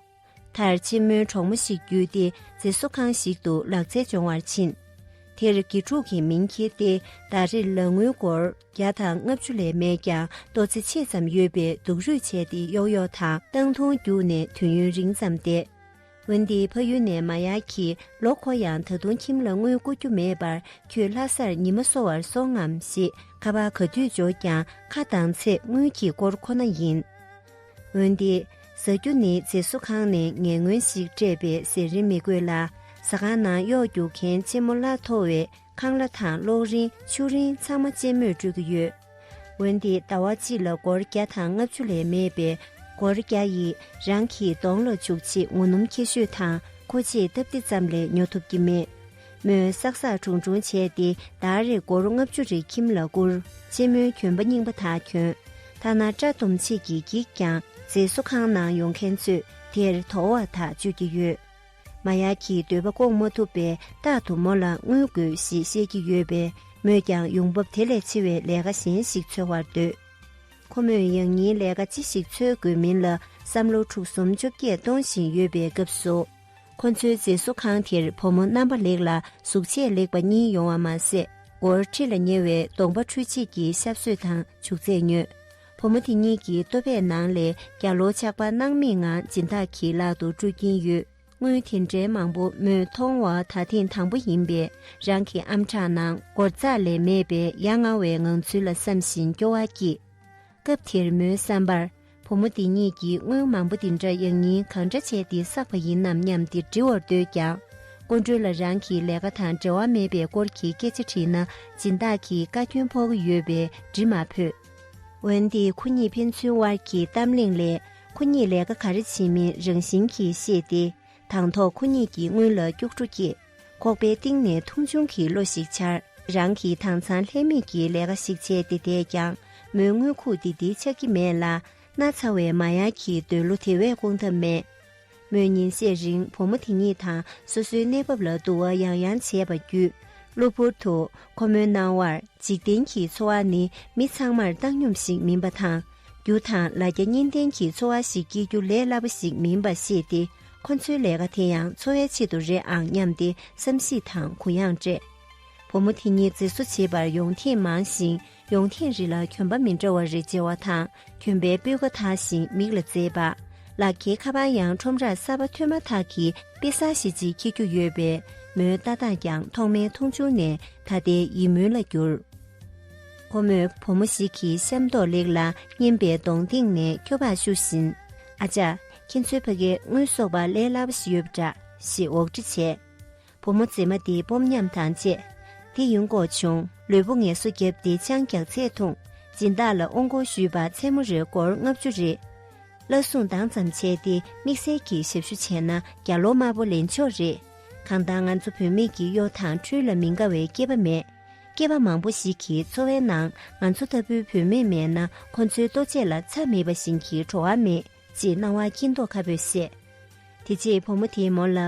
མཐར་ཆེན་མོའི་གྲོགས་མོ་ཞིག་བརྒྱུད་དེ་མཛེས་བཟོ་ཁང་ཞིག་ཏུ་ལག་རྩལ་སྦྱོང་བར་ཕྱིན། དེར་དགེ་ཕྲུག་གིས་མིང་འཁྱེར་ཏེ་ཟླ་རེར་ལག་དངུལ་སྒོར་བརྒྱ་དང་ལྔ་བཅུ་ལས་མེད་ཀྱང་ལྟོ་ཚེ་ཕྱེད་ཙམ་ཡོད་པའི་སྡུག་རུས་བྱས་ཏེ་གཡོག་གཡོག་དང་སྟངས་ཐུང་རྒྱུགས་ནས་དུས་ཡུན་རིང་ཙམ་བསྡད། འོན་ཏེ་ཕ་ཡུལ་ནས་མ་ཡར་གྱིས་ལོག་གོ་ཡང་ད་དུང་ཁྱིམ་ལ་དངུལ་བསྐུར་རྒྱུ་མེད་པར་ཁྱོད་ལྷ་སར་ཉི་མ་གསོ་བར་སོང་ངམ་ཞེས་ཁ་པར་ག་དུས་འབྱོར་ཀྱང་ཁ་གདངས་ཚེ་དངུལ་གྱི་སྐོར་ཁོ་ན་ཡིན། འོན་ཏེ། ཟ་རྒྱུ་ནི་རྫས་བཟོ་ཁང་ནས་ངན་ངོན་ཞིག་སྤྲད་པའི་ཟས་རིན་མི་དགོས་ལ་ཟ་ཁང་ནང་གཡོག་རྒྱུག་མཁན་ལྕི་མོ་བླ་མཐོ་བས་ཁང་གླ་དང་གློག་རིན་ཆུ་རིན་ཚང་མ་བཅས་མོས་སྤྲོད་ཀྱི་ཡོད། འོན་ཏེ་ཟླ་བ་གཅིག་ལ་སྒོར་བརྒྱ་དང་ལྔ་བཅུ་ལས་མེད་པས་སྒོར་བརྒྱ་ཡིས་རང་གི་གདོང་ལ་བྱུག་ཆེད་ངོ་སྣུམ་ཁྱད་ཤོས་དང་མཁོ་ཆས་སྟབས་བདེ་ཙམ་ལས་ཉོ་ཐུབ་ཀྱི་མེད། མོས་བསགས་བསགས་དྲུང་དྲུང་བྱས་ཏེ་ཟླ་རེར་སྒོར་ལྔ་བཅུ་རེ་ཁྱིམ་ལ་བསྐུར། ཆེན་མོའི་གྱོན་པ་རྙིང་པ་དག་གྱོན། ཐ་ན་སྐྲ་སྡོམ་ཆེད་ཀྱི་འགྱིག་ཀྱང་མཛེས་བཟོ་ཁང་ནང་ཡོང་མཁན་ཚོས་དེར་དོ་བ་དག་སྤྱོད་ཀྱི་ཡོད། མ་ཡ་གིས་འདོད་པ་སྐོང་མ་ཐུབ་པས་རྟག་ཏུ་མོ་ལ་དངུལ་དགོས་ཞེས་བཤད་ཀྱི་ཡོད་པས་མོས་ཀྱང་ཡོང་འབབ་དེ་ལས་ཆེ་བའི་ལས་ཀ་གཞན་ཞིག་འཚོལ་བར་འདོད། ཁོ་མོས་ཡང་སྙིང་ལས་ཀ་ཅི་ཞིག་འཚོལ་དགོས་མིན་ལ་བསམ་བློ་འཁྲུག་གསུམ་བཅོ་བརྒྱད་གཏོང་བཞིན་ཡོད་པའི་སྐབས་སུ། ཁོ་ཚོའི་མཛེས་བཟོ་ཁང་དེར་བུ་མོ་རྣམ་པ་ལེགས་ལ་གཟུགས་བྱད་ལེགས་པ་གཉིས་ཡོང་བ་མ་ཟད་སྒོར་ཁྲི་ལ་ཉེ་བའི་གདོང་པ་འཕྲུལ་ཆས་ཀྱི་ཞབས་སོད་དང་བྱུག་རྫས་ཉོས། བུ་མོ་དེ་གཉིས་ཀྱི་ལྟོ་ཕད་ནང་ལས་རྒྱ་ལོ་ཆགས་པ་སྣང་མེད་ངང་སྦྱིན་བདག་གི་ལག་ཏུ་སྤྲོད་ཀྱིན་ཡོད། དངུལ་དེ་འདྲའི་མང་པོ་མོས་མཐོང་བ་ད་ཐེངས་དང་པོ་ཡིན་པས་རང་གི་ཨམ་ཕྲག་ནང་སྒོར་རྩ་ལས་མེད་པའི་ཡ་ང་བའི་ངང་ཚུལ་ལ་བསམ་བཞིན་སྐྱོ་བ་སྐྱེས། སྐབས་དེར་མོའི་བསམ་པར་བུ་མོ་འདི་གཉིས་ཀྱིས་དངུལ་མང་པོ་འདི་འདྲ་ཡག་སྙིང་གང་འདྲ་བྱས་ཏེ་བསགས་པ་ཡིན་ནམ་སྙམ་སྟེ་འདྲི་བར་འདོད་ཀྱང། ཀུན་གྲོལ་ལ་རང་གི་ལས་ཀ་དང་འབྲེལ་བ་མེད་པའི་སྐོར་གྱི་སྐད་ཆ་དྲིས་ན་སྦྱིན་བདག་གིས་བཀའ་སྐྱོན་ཕོག་གི་ཡོད་པས་འདྲི་མ་ཕོད། འོན་ཏེ་ཁོ་གཉིས་ཕན་ཚུན་དབར་གྱི་གཏམ་གླེང་ལས་ཁོ་གཉིས་ལས་ཀ་ག་རེ་བྱེད་མིན་རང་བཞིན་གྱིས་ཤེས་ཏེ་དང་ཐོག་ཁོ་གཉིས་ཀྱི་སྔུན་ལ་སྐྱུག་བྲོ་སྐྱེས། ཁོག་པའི་གཏིང་ནས་ཐུང་ཆུང་གི་བློ་ཞིག་འཆར། རང་གིས་དྭངས་གཙང་ལྷད་མེད་ཀྱི་ལས་ཀ་ཞིག་བྱས་ཏེ་བསྡད་ཀྱང་མོའི་དངུལ་ཁུག་འདི་འདི་ཆགས་ཀྱི་མེད་ལ་སྣ་ཚ་བའི་མ་ཡག་གི་འདོད་བློ་དེ་བས་སྐོང་ཐབས་མེད། མོས་ཉིན་ཤས་རིང་བུ་མོ་དེ་གཉིས་དང་སོ་སོའི་གནས་བབ་ལ་བསྡུར་བ་ཡང་ཡང་བྱས་པ་བརྒྱུད། གློ་བུར་དུ་ཁོ་མོའི་སྣང་བར་འཇིག་རྟེན་གྱི་འཚོ་བ་ནི་མི་ཚང་མར་བཏང་སྙོམས་ཤིག་མིན་པ་དང། རྒྱུ་དང་ལ་རྒྱ་གཉིས་ལྡན་གྱི་འཚོ་བ་ཞིག་སྐྱེལ་རྒྱུ་ལས་སླ་པོ་ཞིག་མིན་པ་ཤེས་ཏེ་ཁོ་ཚོའི་ལས་ཀ་དེ་ཡང་འཚོ་བའི་ཆེད་དུ་རེད་ཨང་སྙམ་སྟེ་བསམ་གཞིགས་དང་གུ་ཡངས་སྤྲད། བུ་མོ་དེ་གཉིས་མཛེས་བཟོ་བྱེད་པར་ཡོང་ཐེངས་མང་ཞིང། ཡོང་ཐེངས་རེ་ལ་གྱོན་པ་མི་འདྲ་བ་རེ་བརྗེ་བ་དང་གྱོན་པའི་སྤོས་ཀ་དག་ཞིང་མིག་ལ་མཛེས་པ། ལག་ཁྱེར་ཁ་པར་ཡང་ཁྲོམ་རར་གསར་པ་ཐོན་མ་ཐག་གི་དཔེ་གསར་ཞིག་ཅིག་འཁྱེར་རྒྱུ་ཡོད་པས་མོའི་ལྟ་སྟངས་ཀྱང་ཐོག་མའི་མཐོང་ཆུང་ནས་ད་ལྟའི་ཡིད་སྨོན་ལ་གྱུར། ཁོ་མོས་བུ་མོ་ཞིག་གི་ཤ་མདོག་ལེགས་ལ་སྙན་པའི་གདོང་སྟེང་ནས་སྐྱོ་བར་བཤུ་བཞིན། ཨ་ཅག། ཁྱེད་ཚོའི་ཕ་གའི་དངུལ་གསོག་པ་ལས་སླ་བ་ཞིག་ཡོད་པ་འདྲ་ཞེས་འོག་འདྲི་བྱས། བུ་མོ་མཛེས་མ་འདི་སྤོབས་ཉམས་དང་བཅས་དེ་ཡུན་འགོག་བྱུང་ལུས་པོ་ངལ་གསོ་བརྒྱབ་སྟེ་ཅང་རྒྱག་ཚད་ཐུང་སྦྱིན་བདག་ལ་ཨོང་སྐོར་ཞུས་པ་མཚན་མོ་རེར་སྒོར་ལྔ་བཅུ་རེ་བླ་བཟུང་འདང་ཙམ་བྱས་ཏེ་དམིགས་བསལ་གྱི་ཞབས་ཞུ་བྱས་ན་བརྒྱ་ལོ་དམར་པོ་ལེན་ཆོག་རེད་གང་ལྟར་ང་ཚོ་བུད་མེད་ཀྱི་གཡོ་དང་འཕྲུལ་ལ་མི་དགའ་བའི་སྐྱེས་པ་མེད་སྐྱེས་པ་མང་པོ་ཞིག་གི་འཚོ་བའི་ནང་ང་ཚོ་ལྟ་བུའི་བུད་མེད་མེད་ན་ཁོ་ཚོའི་ལྟོ་ཆས་ལ་ཚ་མེད་པ་བཞིན་གྱི་བྲོ་བ་མེད། ཅེས་སྣང་བ་སྐྱིད་མདོག་ཁ་བོས་བཤད། དེ་རྗེས་བུ་མོ་དེས་མོ་ལ།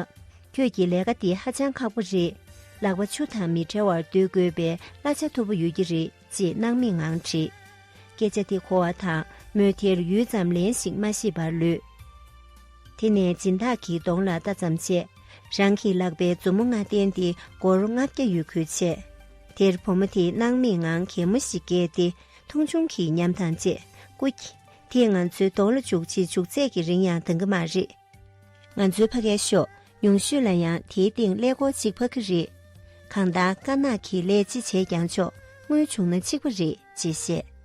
ཁྱོད་ཀྱི་ལས་ཀ་འདི་ཧ་ཅང་ཁག་པོ་རེད། ལག་པ་ཆུ་དང་མི་བྲལ་བར་སྡོད་དགོས་པའི་གླ་ཆ་མཐོ་པོ་ཡོད་ཀྱི་རེད་ཅེས་སྣང་མེད་ངང་དྲིས། སྐད་ཆ་དེ་གོ་བ་དང་མོས་དེར་ཡུད་ཙམ་ལན་ཞིག་མ་ཤེས་པར་ལུས། དེ་ནས་སྦྱིན་བདག་གི་གདོང་ལ་ལྟ་ཙམ་བྱས། རང་གི་ལག་པའི་མཛུབ་མོ་ལྔ་བསྟན་ཏེ་སྒོར་ལྔ་བརྒྱ་ཡོད་ཁུལ་བྱས། དེར་བུ་མོ་དེས་སྣང་མེད་ངང་གད་མོ་ཞིག་བཀལ་ཏེ་མཐོང་ཆུང་གི་ཉམས་དང་བཅས་ཀུ། དེས་ང་ཚོའི་གདོང་ལ་འཇུག་ཅེས་འཇུག་ཚད་ཀྱི་རིང་ཡང་འདང་གི་མ་རེད། ང་ཚོའི་ཕ་སྐད་ཤོད་མྱོང་ཤོས་ལ་ཡང་དེའི་སྟེང་ཀླད་ཀོར་གཅིག་ཕབ་ཀྱི་རེད། གང་ལྟར་དཀར་ནག་གིས་ཀླད་ཅི་བྱས་ཀྱང་ཆོག་དངུལ་བྱུང་ན་གཅིག་པ་རེད་ཅེས་བཤད།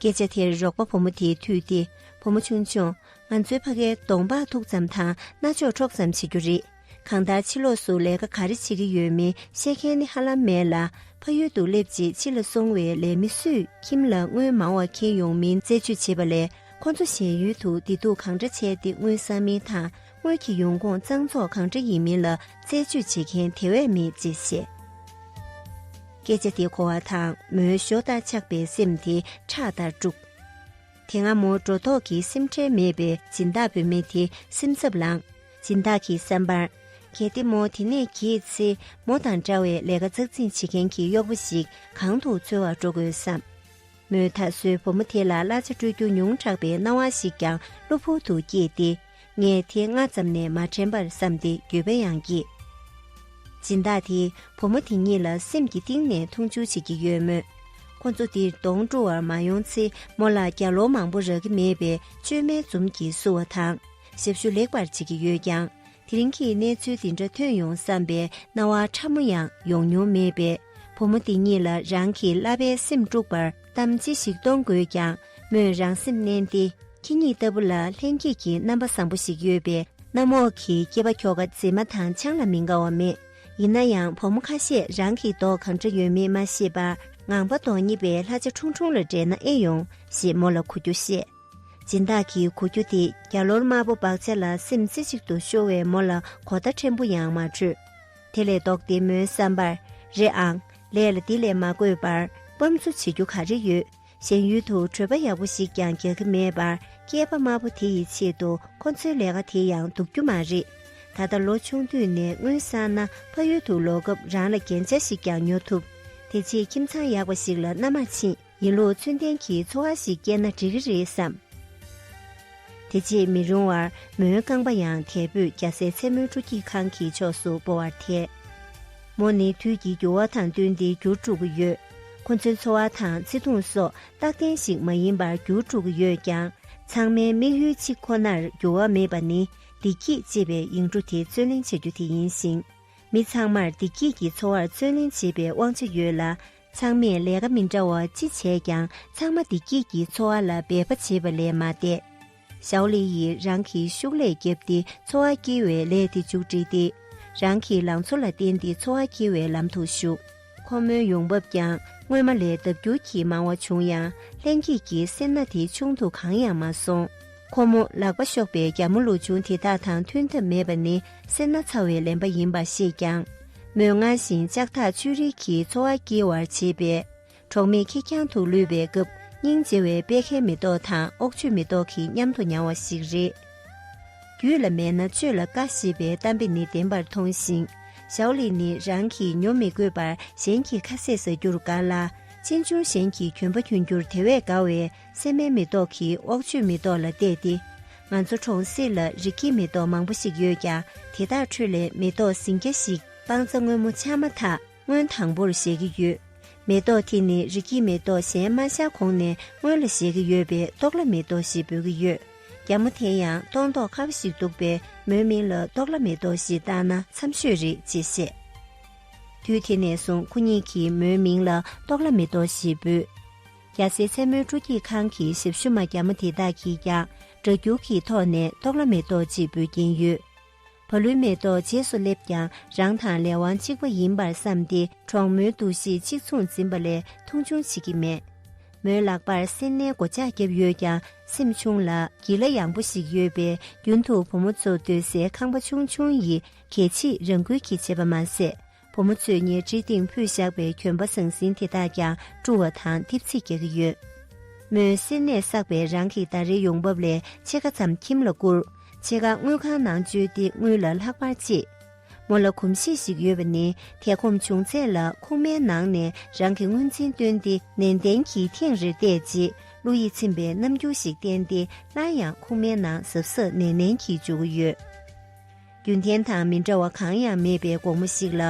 སྐད་ཆ་དེར་རོགས་པ་བུ་མོ་དེས་ཐུག་སྟེ་བུ་མོ་ཆུང་ཆུང། ང་ཚོའི་ཕ་སྐད་གདོང་འབག་མཐུག་ཙམ་དང་རྣ་ཅོག་འཕྲོག་ཙམ་བྱེད་རྒྱུ་རེད། གང་ལྟར་ཕྱི་ལོགས་སུ་ལས་ཀ་ག་རེ་བྱེད་ཀྱི་ཡོད་མིན་ཤེས་མཁན་ནི་ཧ་ལམ་མེད་ལ། ཕ་ཡུལ་དུ་སླེབས་རྗེས་ཕྱི་ལ་སོང་བའི་ལས་མི་སུས་ཁྱིམ་ལ་དངུལ་མང་བ་འཁྱེར་ཡོང་མིན་རྩད་གཅོད་བྱེད་པ་ལས་ཁོ་ཚོ་གཞན་ཡུལ་དུ་བདེ་སྡུག་གང་འདྲ་བྱས་ཏེ་དངུལ་བསགས་མིན་དང་དངུལ་གྱི་ཡོང་ཁུངས་གཙང་བཙོག་གང་འདྲ་ཡིན་མིན་ལ་རྩད་གཅོད་བྱེད་མཁན་དེ་བས་མེད་ཅེས་བཤད། སྐད་ཆ་དེ་གོ་བ་དང་མོའི་ཞོ་ལྟར་ཆགས་པའི་སེམས་དེ་ཁྲག་ལྟར་དཀྲུགས། དེ་སྔ་མོ་འགྲོ་ལྡོག་གི་སེམས་ཁྲལ་མེད་པའི་སྦྱིན་བདག་བུད་མེད་དེ་སེམས་འཚབ་ལངས། སྦྱིན་བདག་གིས་བསམ་པར། གལ་ཏེ་མོ་དེ་ནས་གྱེས་ཚེ་མོ་དང་འདྲ་བའི་ལས་ཀ་ཙག་ཙིག་བྱེད་མཁན་གྱི་གཡོག་པོ་ཞིག་གང་དུ་འཚོལ་བར་འགྲོ་དགོས་སམ། མོས་ད་གཟོད་བུ་མོ་དེ་ལ་གླ་ཆ་སྤྲོད་རྒྱུ་ཉུང་དྲགས་པའི་སྣང་བ་ཞིག་ཀྱང་གློ་བུར་དུ་སྐྱེས་ཏེ། ངས་དེ་སྔ་ཙམ་ནས་མ་དྲན་པར་བསམ་སྟེ་འགྱོད་པ་ཡང་སྐྱེས། སྦྱིན་བདག་དེས་བུ་མོ་དེ་གཉིས་ལ་སེམས་ཀྱི་གཏིང་ནས་མཐོང་ཆུང་བྱེད་ཀྱི་ཡོད་མོད། ཁོ་ཚོ་འདིར་གདོང་བཀྲུ་བར་མ་ཡོང་ཚེ་མོ་ལ་རྒྱ་ལོ་མང་པོ་རག་གི་མེད་པའི་བཅོས་མའི་འཛུམ་གྱིས་བསུ་བ་དང། ཞབས་ཞུ་ལེགས་པར་བྱེད་ཀྱི་ཡོད་ཀྱང་དེ་རིང་གི་གནས་ཚུལ་འདི་འདྲ་ཐོན་ཡོང་བསམ་པའི་སྣང་བ་ཕྲ་མོ་ཡང་ཡོང་མྱོང་མེད་པས་བུ་མོ་འདི་གཉིས་ལ་རང་གི་བསླབ་པའི་སེམས་དཀྲུགས་པར་གཏམ་ཅི་ཞིག་གཏོང་དགོས་ཀྱང་མོས་རང་སེམས་མནན་ཏེ་ཁྱེད་གཉིས་ལྟ་བུ་ལ་ལྷན་སྐྱེས་ཀྱི་རྣམ་པ་བཟང་པོ་ཞིག་ཡོད་པས་གནམ་འོག་གི་སྐྱེས་པ་ཁྱོ་ག་མཛེས་མ་དང་ཆང་ལ་མི་དགའ་བ་མེད། ཡིན་ན་ཡང་བུ་མོ་ཁ་ཤས་རང་གི་མདོག་གང་འདྲ་ཡོད་མེད་མ་ཤེས་པར་ངང་པ་མདོག་ཉེས་པའི་ལྷ་བྱ་ཁྲུང་ཁྲུང་ལ་འགྲན་ན་ཨེ་ཡོང་ཞེས་མོ་ལ་གོ་རྒྱུ་བཤད། སྦྱིན་བདག་གི་གོ་རྒྱུ་དེ་རྒྱ་ལོར་དམར་པོ་འབག་བྱ་ལ་སེམས་རྩེ་གཅིག་ཏུ་ཤོར་བས་མོ་ལ་གོ་བརྡ་ཕྲན་བུ་ཡང་མ་སྤྲོད། དེ་ལས་ལྡོག་སྟེ་མོའི་བསམ་པར། རེད་ཨང། ལས་ལ་འདི་ལས་མ་དགོས་པར་སྤམ་བཙུགས་བྱེད་རྒྱུ་ག་རེ་ཡོད། གཞན་ཡུལ་དུ་བྲོས་པ་ཡག་པོ་ཞིག་ཀྱང་རྒྱག་གི་མེད་པར་སྐྱེས་པ་དམར་པོ་དེ་ཡི་ཆེད་དུ་ཁོ་ཚོའི་ལས་ཀ་དེ་ཡང་འདུག་རྒྱུ་མ་རེད། ད་ལྟ་ལོ་ཆུང་དུས་ནས་སྔོན་བསགས་ན་ཕ་ཡུལ་དུ་ལོག་སྐབས་རང་ལ་རྒྱན་ཆ་ཞིག་ཀྱང་ཉོ་ཐུབ། དེ་རྗེས་ཁྱིམ་ཚང་ཡག་པ་ཞིག་ལ་མནའ་མར་ཕྱིན། ཡིན་ལུགས་མཚོན་ལྡན་གྱི་ཚོར་བ་ཞིག་སྐྱེས་ན་འགྲིག་གི་རེད་བསམ། དེ་རྗེས་མི་རུང་བར་མོའི་རྐང་པ་ཡང་དལ་བུས་རྒྱ་སེ་མཚན་མོའི་སྤྲོ་སྐྱིད་ཁང་གི་ཕྱོགས་སུ་སྤོ་བར་ཐལ། མོ་ནི་དུས་ཀྱི་འགྱུར་བ་དང་བསྟུན་ཏེ་འགྱུར་འགྲོ་གི་ཡོད། ཁོ་ཚོའི་འཚོ་བ་དང་བརྩེ་དུང་སོགས་རྟག་བརྟན་ཞིག་མ་ཡིན་པར་འགྱུར་འགྲོ་གི་ཡོད་ཀྱང་ཚང་མའི་དམིགས་ཡུལ་གཅིག་ཁོ་ནར་འགྱུར་བ་མེད་པ་ནི་བདེ་སྐྱིད་ཅེས་པའི་ཡིག་འབྲུ་དེ་བརྩོན་ལེན་བྱ་རྒྱུ་དེ་ཡིན་ཞིང། མི་ཚང་མར་བདེ་སྐྱིད་ཀྱི་འཚོ་བར་བརྩོན་ལེན་བྱེད་པའི་དབང་ཆ་ཡོད་ལ། ཚང་མས་ལས་ཀ་མི་འདྲ་བ་ཅི་བྱས་ཀྱང་ཚང་མ་བདེ་སྐྱིད་ཀྱི་འཚོ་བ་ལ་འབད་པ་བྱེད་པ་ལས་མ་འདས། ཞའོ་ལི་ཡིས་རང་གི་ཤུགས་ལས་བརྒྱབ་སྟེ་འཚོ་བ་སྐྱེལ་བའི་ལས་དེ་མཇུག་བསྒྲིལ་ཏེ། རང་གི་ལང་ཚོ་ལ་བརྟེན་ཏེ་འཚོ་བ་སྐྱེལ་བའི་ལམ་དུ་ཞུགས། ཁོ་མོའི་ཡོང་འབབ་ཀྱང་སྔོན་མ་ལས་ལྡབ་འགྱུར་གྱིས་མང་བ་བྱུང་ཡང་ལྷན་སྐྱེས་ཀྱི་སེར་སྣ་དེ་ཆུང་དུ་གང་ཡང་མ་སོང། ཁོ་མོ་ལག་པ་གཤོག་པའི་རྒྱ་མོ་ལུག་ཆུང་དེ་དག་དང་མཐུན་ཐབས་མེད་པ་ནི་སེར་སྣ་ཚ་བའི་ལེན་པ་ཡིན་པར་ཤེས་ཀྱང། མོས་སྔར་བཞིན་ལྕགས་ཐག་ཆོད་རིགས་ཀྱིས་འཚོ་བ་སྐྱེལ་བར་བྱེད་པས། གྲོགས་མེད་ཁེར་རྐྱང་དུ་ལུས་པའི་སྐབས་སྙིང་རྗེ་བའི་དཔལ་ཁའི་མེ་ཏོག་དང་ཨོག་ཆོས་མེ་ཏོག་གི་མཉམ་དུ་མྱང་བ་ཞིག་རེད། རྒྱུད་ལ་མེད་ན་སྤྱོད་ལ་དཀའ་ཞེས་པའི་གཏམ་དཔེ་ནི་བདེན་པར་མཐོང་ཞིང། ཞའོ་ལིས་ནི་རང་གིས་ཉོ་མི་དགོས་པར་གཞན་གྱིས་ཁ་ཟས་ཟ་རྒྱུར་དགའ་ལ། ཅན་ཅུང་ཞན་གྱིས་གྱོན་པ་གྱོན་རྒྱུར་དེ་བས་དགའ་བས། སྲན་མའི་མེ་ཏོག་གིས་ཨོག་ཆོས་མེ་ཏོག་ལ་བལྟས་ཏེ། ང་ཚོ་གྲོང་གསེབ་ལ་རིགས་ཀྱི་མེ་ཏོག་མང་པོ་ཞིག་ཡོད་ཀྱང་དེ་དག་ཁྲོད་ལས་མེ་ཏོག་ཟིང་སྐྱ་ཞིག་སྤང་རྩྭ་སྔོན་མོ་ཆགས་མ་ཐག་སྔོན་དང་པོར་བཞད་ཀྱི་ཡོད། མེ་ཏོག་དེ་ནི་རིགས་ཀྱི་མེ་ཏོག་གཞན་མ་བཞག་གོང་ནས་སྔོན་ལ་བཞད་ཀྱི་ཡོད་པས་ཏོག་ལ་མེ་ཏོག་ཞེས་འབོད་ཀྱི་ཡོད། རྒྱ་མོ་དེ་ཡང་ཏོག་མདོག་ཁ་བ་ཞིག་འདུག་པས་མོའི་མིང་ལ་ཏོག་ལ་མེ་ཏོག་ཞེས་བཏགས་ན་འཚམས་ཤོས་རེད་ཅེས་བཤད། དུས་དེ་ནས་བཟུང་ཁོ་གཉིས་ཀྱིས་མོའི་མིང་ལ་ཏོག་ལ་མེ་ཏོག་ཞེས་འབོད། རྒྱ་སེ་མཚན་མོའི་སྤྲོ་སྐྱིད་ཁང་གི་ཞབས་ཞུ་མ་རྒྱ་མོ་དེ་དག་གིས་ཀྱང་སྒྲ་སྒྱུར་གྱི་ཐོག་ནས་ཏོག་ལ་མེ་ཏོག་ཅིག་འབུལ་གྱིན་ཡོད། བ་ལུའི་མེ་ཏོག་རྗེས་སུ་སླེབས་ཀྱང་རང་དང་ལས་དབང་གཅིག་པ་ཡིན་པར་བསམས་ཏེ་གྲོགས་མོའི་འདུ་ཤེས་གཅིག་མཚུངས་འཛིན་པ་ལས་མཐོང་ཆུང་བྱེད་ཀྱི་མེད། མོའི་ལག་པར་སེར་སྣའི་སྒོ་ལྕགས་བརྒྱབ་ཡོད་ཀྱང་སེམས་ཆུང་ལ། གྱི་ལ་ཡངས་པོ་ཞིག་ཡོད་པས་རྒྱུན་དུ་བུ་མོ་ཚོ་སྡོད་སའི་ཁང་པ་ཆུང་ཆུང་ཡི་གེ་ཕྱིས་རང་འགུལ་གྱིས་བྱེད་པ་མ་ཟད་བུ་མོ་ཚོས་ཉལ་ཁྲིའི་སྟེང་ཕུད་བཞག་པའི་གྱོན་པ་ཟང་ཟིང་དེ་དག་ཀྱང་བཀྲུ་བ་དང་ཐིབས་ཚིག་རྒྱག་གི་ཡོད། མོས་གསེར་ནད་བསགས་པའི་རང་གི་ཟླ་རེའི་ཡོང་འབབ་ལས་ཕྱེད་ཀ་ཙམ་ཁྱིམ་ལ་བསྐུར། ཕྱེད་ཀ་དངུལ་ཁང་ནང་བཅོལ་ཏེ་དངུལ་ལ་ལྷག་པར་གཅེས། མོ་ལ་གོམས་གཤིས་ཤིག་ཡོད་པ་ནི་དེ་གོམས་བྱུང་ཚད་ལ་ཁུག་མའི་ནང་ནས་རང་གི་དངུལ་འཛིན་བཏོན་ཏེ་ནན་ཏན་གྱིས་ཐེངས་རེར་བལྟས་རྗེས་བློ་ཡིད་ཚིམ་པའི་རྣམ་འགྱུར་ཞིག་བསྟན་ཏེ་སླར་ཡང་ཁུག་མའི་ནང་གཟབ་གཟབ་ནན་ནན་གྱིས་འཇུག་གི་ཡོད། རྒྱུ་མཚན་དང་མི་འདྲ་བ་གང་ཡང་མེད་པའི་དགོང་མོ་ཞིག་ལ་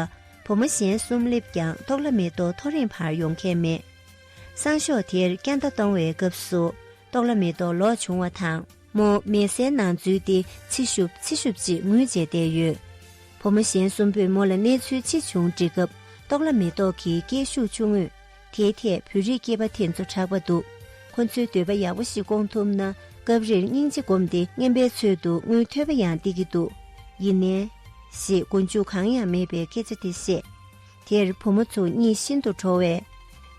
བུ་མོ་གཞན་གསུམ་བསླེབས་ཀྱང་ཐོག་ལ་མེ་ཏོག་ཐོ་རེངས་བར་ཡོང་མཁན་མེད། སང་ཞོགས་དེར་སྐྱ་མདའ་གཏོང་བའི་སྐབས་སུ་ཐོག་ལ་མེ་ཏོག་ལོག་བྱུང་བ་དང། མོ་མེ་སའི་ནང་འཛུལ་ཏེ་ཚི་ཤུབ་ཚི་ཤུབ་ཅེས་ངུས་རྗེས་བསྡད་ཡོད། བུ་མོ་གཞན་གསུམ་པོས་མོ་ལ་གནས་ཚུལ་ཅི་བྱུང་འདྲི་སྐབས་ཐོག་ལ་མེ་ཏོག་གིས་སྐད་ཤུགས་ཆུང་ངུས། དེའི་ཐད་བོད་རིགས་སྐྱེས་པ་དེ་ཚོ་དྲག་པ་འདུག་ཁོ་ཚོའི་འདོད་པ་ཡག་པོ་ཞིག་སྐོང་ཐུབ་ན་སྐབས་རེར་སྙིང་རྗེ་སྒོམ་སྟེ་རྔན་པའི་ཚུལ་དུ་དངུལ་ཐོད་པ་ཡང་སྟེར་གྱི་འདུག་ཡིན་ནའི། ཞེས་མགོ་མཇུག་གང་ཡང་མེད་པའི་སྐད་ཆ་དེ་བཤད། དེར་བུ་མོ་ཚོ་གཉིད་ཤིན་ཏུ་བྲོ་བས།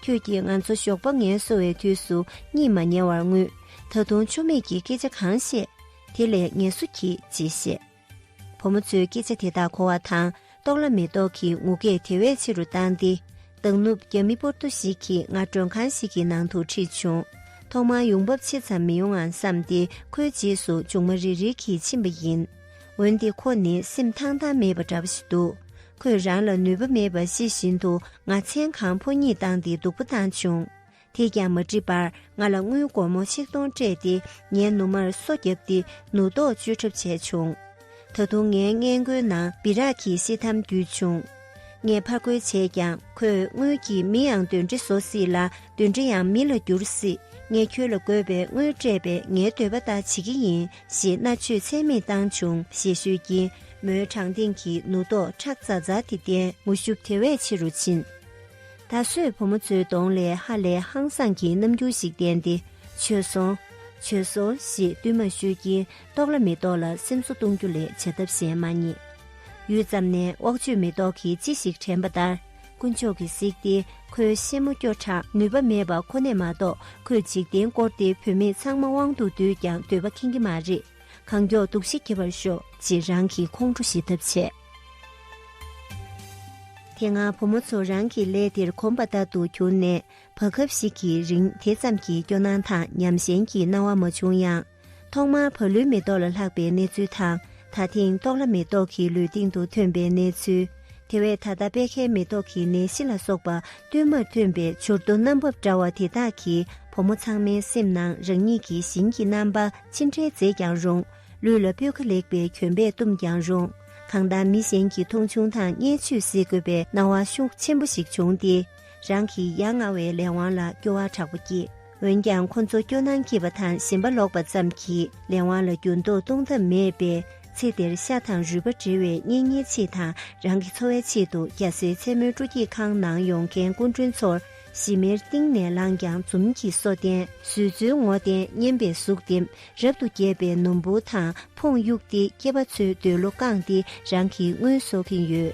ཁྱོད་ཀྱིས་ང་ཚོ་ཞོགས་པ་ངལ་གསོ་བའི་དུས་སུ་གཉིད་མ་ཉལ་བར་ངུས་ད་དུང་ཆུ་མིག་གིས་སྐད་ཆ་གང་བཤད་དེ་ལས་ངལ་གསོ་གྱིས་ཅེས་བཤད། བུ་མོ་ཚོའི་སྐད་ཆ་དེ་དག་གོ་བ་དང་རྟོགས་ལ་མེ་ཏོག་གིས་ངུ་སྐད་དེ་བས་ཆེ་རུ་བཏང་སྟེ། མདང་ནུབ་རྒྱ་མི་པོར་ཏོ་ཞིག་གིས་ང་མགྲོན་ཁང་ཞིག་གི་ནང་དུ་ཁྲིད་བྱུང། ཐོག་མར་ཡོང་འབབ་ཆེ་ཙམ་མི་ཡོང་ཨང་བསམ་སྟེ་ཁོའི་རྗེས་སུ་ལྗོངས་མ་རིལ་རིལ་གྱིས་ཕྱིན་པ་ཡིན། འོན་ཏེ་ཁོ་ནི་སེམས་ཐང་ཐང་མེད་པ་འདྲ་པོ་ཞིག་འདུག་ཁོས་རང་ལ་ནུས་པ་མེད་པ་ཤེས་བཞིན་དུ་ང་མཚན་གང་ཕོ་གཉིད་བཏང་སྟེ་སྡུག་པོ་བཏང་བྱུང། དེས་ཀྱང་མ་འགྲིག་པར་ང་ལ་དངུལ་སྒོར་མོ་ཆིག་སྟོང་སྤྲད་དེ་ངའི་ནུ་མར་སོ་བརྒྱབ་སྟེ་ནུ་རྡོག་གཅོད་གྲབས་བྱས་བྱུང། ད་དུང་ངའི་སྔས་མགོའི་ནང་སྦི་རག་གིས་ཤི་འཐམ་བསྡུས་བྱུང། ངས་ཕར་རྒོལ་བྱས་ཀྱང་ཁོས་དངུལ་གྱིས་མི་ཡང་འདོན་འདྲེ་བཟོ་སྲིད་ལ་འདོན་འདྲེ་ཡང་མི་ལ་འགྱུར་སྲིད་ངས་ཁྱོད་ལ་དགོས་པའི་དངུལ་སྤྲད་པས་ངའི་འདོད་པ་ལྟར་བྱེད་ཀྱི་ཡིན་ཞེས་མནར་གཅོད་ཚད་མེད་བཏང་བྱུང་ཞེས་ཤོད་ཀྱིན་མོའི་བྲང་སྟེང་གི་ནུ་རྡོག་ཁྲག་འཛར་འཛར་དེ་བསྟན། ངུ་ཤུབས་དེ་བས་ཆེ་རུ་ཕྱིན། ད་གཟོད་བུ་མོ་གཙོའི་གདོང་ལས་ཧ་ལས་ཧང་སངས་ཀྱི་རྣམ་འགྱུར་ཞིག་བསྟན་ཏེ་བྱོལ་སོང། བྱོལ་སོང་ཞེས་བསྟུད་མར་ཤོད་ཀྱིན་ལྟོགས་ལ་མི་ལྟོགས་ལ་སེམས་གསོ་གཏོང་རྒྱུ་ལས་བྱ་ཐབས་གཞན་མ་རྙེད། ཡུད་ཙམ་ནས་དབག་ཆོས་མེ་ཏོག་གིས་ཅི་ཞིག་དྲན་པ་ལྟར་དཀོན་མཆོག་གིས་གཟིགས་ཏེ་ཁོའི་ཤེད་མོ་སྐྱོ་དྲགས་ནུས་པ་མེད་པ་ཁོ་ནས་མ་གཏོགས་ཁོས་འཇིག་རྟེན་བསྐོར་ཏེ་བུད་མེད་ཚང་མ་དབང་དུ་བསྡུས་ཀྱང་འདོད་པ་ཁེངས་ཀྱི་མ་རེད། གང་མགྱོགས་འདུག་ཤི་འགྱེལ་བར་ཤོག་ཅེས་རང་གི་ཁོང་ཁྲོ་ཞི་ཐབས་བྱས། དེ་སྔ་བུ་མོ་ཚོ་རང་གི་ལས་དེར་གོམས་པ་ལྟར་དུ་གྱུར་ནས་བར་སྐབས་ཤིག་གི་རིང་དེ་ཙམ་གྱི་སྐྱོ་སྣང་དང་ཉམས་ཞན་གྱི་སྣང་བ་མ་བྱུང་ཡང། ཐོག་མར་བ་ལུའི་མེ་ཏོག་ལ་ལྷག་པའི་གནས་ཚུལ་དང་ད་ཐེངས་ཏོག་ལ་མེ་ཏོག་གི་ལུས་སྟེང་དུ་ཐོན་པའི་གནས་ཚུལ། དེ་བས་ད་ལྟ་པད་ཁའི་མེ་ཏོག་གི་ནད་གཞི་ལ་སོགས་པ་བསྟུད་མར་ཐོན་པའི་བྱུར་རྡོ་རྣམ་བབ་འདྲ་བ་དེ་དག་གིས་བུ་མོ་ཚང་མའི་སེམས་ནང་རང་ཉིད་ཀྱི་བཞིན་གྱི་རྣམ་པ་ཅི་འདྲའི་མཛེས་ཀྱང་རུང། ལུས་ལ་སྤོས་ཁ་ལེགས་པའི་གྱོན་པས་བཏུམས་ཀྱང་རུང། གང་ལྟར་མི་གཞན་གྱི་མཐོང་ཆུང་དང་བརྙས་བཅོས་བསལ་དགོས་པའི་སྣང་བ་ཤུགས་ཆེན་པོ་ཞིག་བྱུང་སྟེ། རང་གི་ཡ་ང་བའི་ལས་དབང་ལ་སྐྱོ་བ་དྲག་པོ་སྐྱེས། འོན་ཀྱང་ཁོ་ཚོ་སྐྱོ་སྣང་སྐྱེས་པ་དང་ཞེན་པ་ལོག་པ་ཙམ་གྱིས་ལས་དབང་ལ་འགྱུར་ལྡོག་གཏོང་ཐབས་མེད་པས་ཚེ་འདིར་ཤ་དང་རུས་པ་འབྲེལ་བའི་གཉེན་ཉེ་ཆེད་དང་རང་གི་འཚོ་བའི་ཆེད་དུ་རྒྱ་སེའི་མཚན་མོའི་སྤྲོ་སྐྱིད་ཁང་ནང་ཡོང་མཁན་སྐུ་མགྲོན་ཚོར་ཞི་མིར་གཏིང་ནས་བསླངས་ཀྱང་འཛུམ་གྱིས་སོ་བསྟན། བཟོད་བརྩོན་ངོ་བསྟན་སྙན་པའི་གཟུགས་འདེབས། རབ་ཏུ་རྒྱས་པའི་ནོར་བུ་དང་འཕོངས་གཡུགས་ཏེ་སྐྱེས་པ་ཚོའི་འདོད་བློ་བཀང་སྟེ་རང་གི་དངུལ་གསོག་གིན་ཡོད།